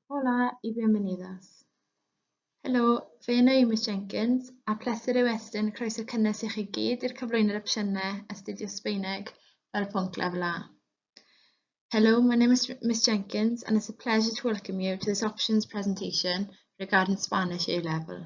Hola y bienvenidas. Helo, fe yna i Miss Jenkins, a pleser yw estyn croeso cynnes i chi gyd i'r cyflwyno'r opsiynau astudio Sbaeneg fel pwnc lefel A. Hello, my name is Miss Jenkins and it's a pleasure to welcome you to this options presentation regarding Spanish A-level.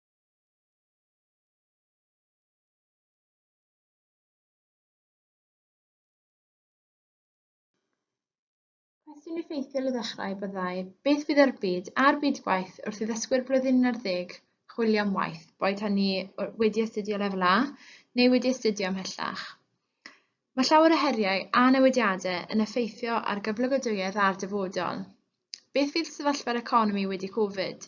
Cwestiwn effeithiol i ddechrau byddai, beth fydd yr byd a'r byd gwaith wrth i ddysgwyr blwyddyn 11 chwilio am waith, boed hynny wedi astudio lefel A neu wedi astudio ymhellach? Mae llawer o heriau a newidiadau yn effeithio ar gyflogadwyedd a'r dyfodol. Beth fydd sefyllfa'r economi wedi Covid?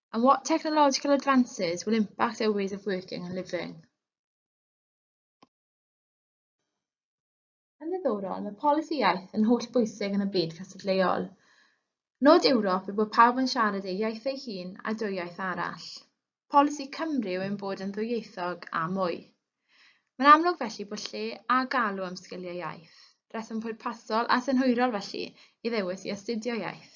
and what technological advances will impact their ways of working and living. Yn ddiddorol, mae polisi iaith yn holl bwysig yn y byd cystadleuol. Nod Ewrop yw bod pawb yn siarad ei iaith ei hun a dwy iaith arall. Polisi Cymru yw ein bod yn ddwyieithog a mwy. Mae'n amlwg felly bod lle a galw am sgiliau iaith, rheswm pwrpasol a synhwyrol felly i ddewis i astudio iaith.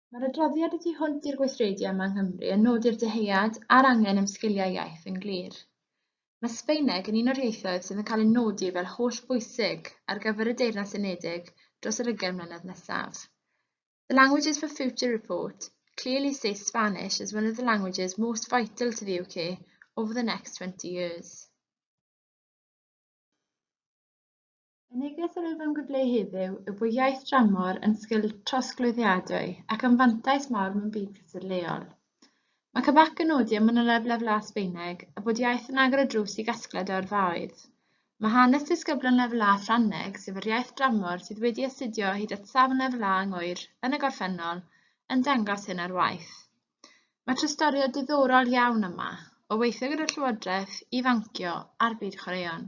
Mae'r adroddiad y tu hwnt i'r gweithredu yma yng Nghymru yn nodi'r dyhead a'r angen am sgiliau iaith yn glir. Mae Sbaeneg yn un o'r ieithoedd sydd yn cael ei nodi fel holl bwysig ar gyfer y Deyrnas Unedig dros yr ugain mlynedd nesaf. The Languages for Future report clearly states Spanish as one of the languages most vital to the UK over the next 20 years. Y neges yr wyf yn gwblheu heddiw yw bod iaith dramor yn sgil trosglwyddiadwy ac yn fantais mawr mewn byd cysur leol. Mae Cabac yn nodi am manyleb lefelau Sbaeneg a bod iaith yn agor y drws i gasgliad o yrfaoedd. Mae hanes disgyblion lefel A Ffrangeg, sef yr iaith dramor sydd wedi astudio hyd at safon lefel A yng Ngŵyr yn y gorffennol, yn dangos hyn ar waith. Mae trystoriad diddorol iawn yma, o weithio gyda'r Llywodraeth, ifancio a'r byd chwaraeon.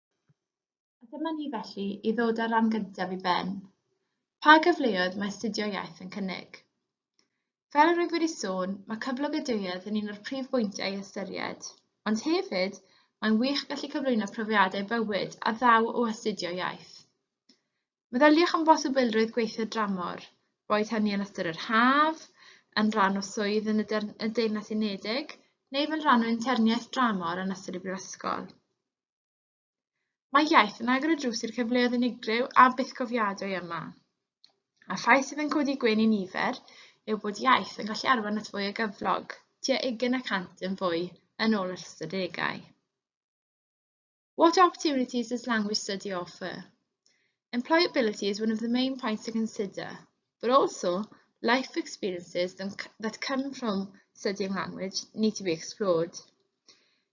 A dyma ni felly i ddod â'r ran gyntaf i ben. Pa gyfleoedd mae astudio iaith yn cynnig? Fel yr wyf wedi sôn, mae cyflog y duedd yn un o'r prif bwyntiau i ystyried, ond hefyd, mae'n wych gallu cyflwyno profiadau bywyd a ddaw o astudio iaith. Meddyliwch am bosibilrwydd gweithio dramor, boed hynny yn ystod yr haf, yn rhan o swydd yn y, y Deyrnas Unedig, neu fel rhan o interniaeth dramor yn ystod y brifysgol. Mae iaith yn agor y drws i'r cyfleoedd unigryw a bythgofiadwy yma. A rhai sydd yn codi gwyn i nifer yw bod iaith yn gallu arwain at fwy o gyflog, tua 20 y cant yn fwy yn ôl yr ystadegau. What opportunities does language study offer? Employability is one of the main points to consider, but also life experiences that come from studying language need to be explored.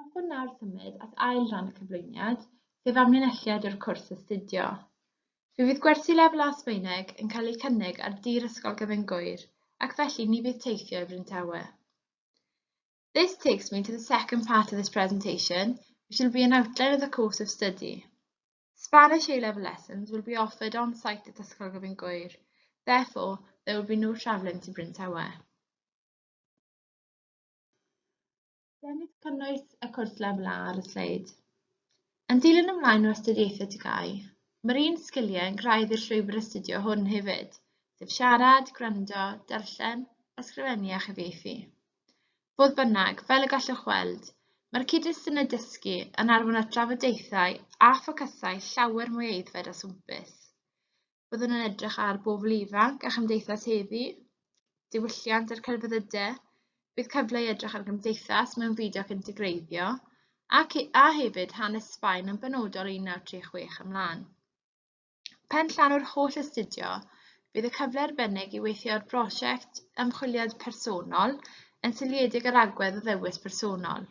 Hoffwn nawr symud at ail ran y cyflwyniad, sef amlinelliad o'r cwrs astudio. Fe fydd gwersi lefel A Sbaeneg yn cael eu cynnig ar dir Ysgol Gyfun Gŵyr, ac felly ni fydd teithio i Bryn Tawe. This takes me to the second part of this presentation, which will be an outline of the course of study. Spanish A-level lessons will be offered on site at Ysgol Gyfun Gŵyr, therefore there will be no travelling to Bryn Tawe. Dengys cynnwys y cwrs lefel A ar y sleid. Yn dilyn ymlaen o astudiaethau TGAU, mae'r un sgiliau yn graidd i'r llwybr astudio hwn hefyd, sef siarad, gwrando, darllen, ysgrifennu a chyfieithu. Fodd bynnag, fel y gallwch weld, mae'r cyd-destynau dysgu yn arwain at drafodaethau a ffocysau llawer mwy aeddfed a swmpus. Byddwn yn edrych ar bobl ifanc a chymdeithas heddi, diwylliant a'r celfyddyde, bydd cyfle i edrych ar gymdeithas mewn fyd ac integreiddio, ac a hefyd hanes Sbaen yn benodol 1936 ymlaen. Pen llanw'r holl astudio, bydd y cyfle arbennig i weithio ar brosiect ymchwiliad personol yn seiliedig ar agwedd o ddewis personol.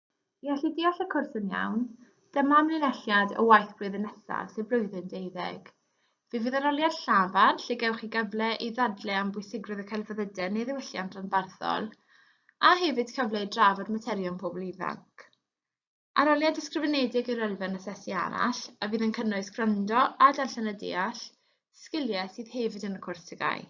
I allu deall y cwrs yn iawn, dyma amlinelliad o waith blwyddyn nesaf, sef blwyddyn deuddeg. Fe fydd yr oliad llafar, lle gewch chi gyfle i ddadle am bwysigrwydd y celfyddydau neu ddiwylliant ranbarthol, a hefyd cyfle i drafod materion pobl ifanc. Aroliad ysgrifenedig i'r elfen asesu arall, a fydd yn cynnwys gwrando a darllen a deall, sgiliau sydd hefyd yn y cwrs TGAU.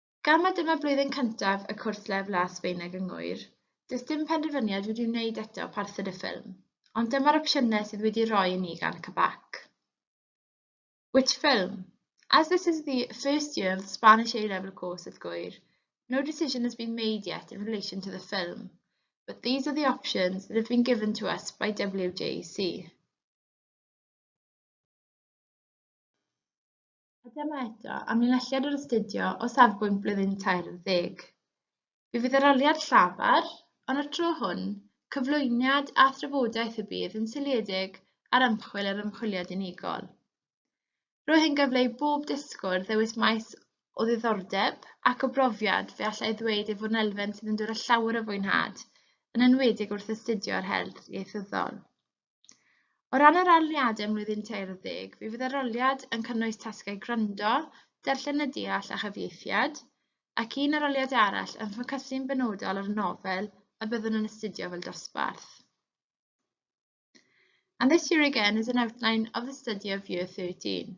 Gan mai dyma blwyddyn cyntaf y cwrs Lef Las Sbaeneg yng Ngŵyr, does dim penderfyniad wedi'i wneud eto o parthed y ffilm, ond dyma'r opsiynau sydd wedi'u rhoi i ni gan CBAC. Which film? As this is the first year of the Spanish A-level course at Gŵyr, no decision has been made yet in relation to the film, but these are the options that have been given to us by WJC. A dyma eto amlinelliad o'r astudio o safbwynt blwyddyn 40. Fe fydd yr oliad llafar, ond y tro hwn, cyflwyniad a thrafodaeth y bydd yn seiliedig ar ymchwil yr ymchwiliad unigol. Roedd hyn gyfle i bob dysgwr ddewis maes o ddiddordeb ac o brofiad fe allai ddweud ei fod yn elfen sydd yn dod â llawer o fwynhad, yn enwedig wrth astudio yr her ieithyddol. O ran yr arluniadau ym mlwyddyn tair ar ddeg, fe fydd aroliad yn cynnwys tasgau gwrando, darllen y deall a chyfieithiad, ac un aroliad arall yn ffocysu'n benodol ar y nofel y byddwn yn astudio fel dosbarth. And this year again is an outline of the study of year 13.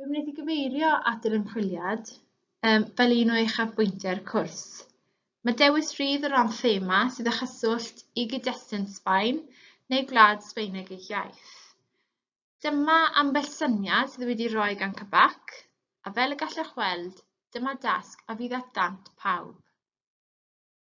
Fe wnaeth i gyfeirio at yr ymchwiliad um, fel un o uchafbwyntiau'r cwrs. Mae dewis rhydd o ran thema sydd â chyswllt i gyd-destun Sbaen neu gwlad Sbaeneg ei iaith. Dyma ambell syniad sydd wedi rhoi gan Cabac, a fel y gallwch weld, dyma dasg a fydd at ddant pawb.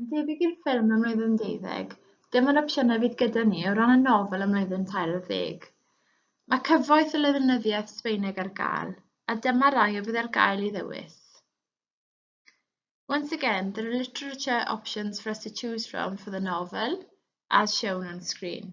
Yn debyg i'r ffilm ym mlwyddyn deuddeg, dim ond opsiynau fydd gyda ni o ran y nofel ym mlwyddyn tair ar ddeg. Mae cyfoeth o lenyddiaeth Sbaeneg ar gael, a dyma rai a fydd ar gael i ddewis. Once again, there are literature options for us to choose from for the novel, as shown on screen.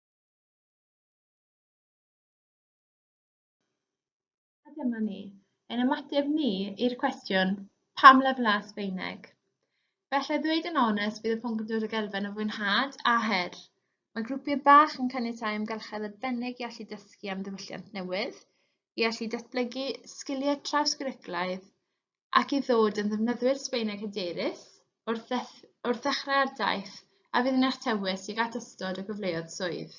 A dyma ni, ein ymateb ni i'r cwestiwn, pam lefelau Sbaeneg? Bellai ddweud yn onest bydd y pwnc yn dod ag elfen o fwynhad a her. Mae grwpiau bach yn caniatáu amgylchedd arbennig i allu dysgu am ddiwylliant newydd, i allu datblygu sgiliau trawsgwricwlaidd ac i ddod yn ddefnyddwyr Sbaeneg hyderus wrth ddechrau'r daith a fydd yn eich tywys tuag at ystod o gyfleoedd swydd.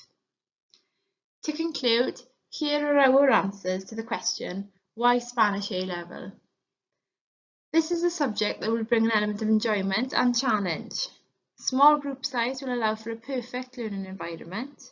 To conclude, here are our answers to the question, why Spanish A-level? This is a subject that will bring an element of enjoyment and challenge. Small group size will allow for a perfect learning environment.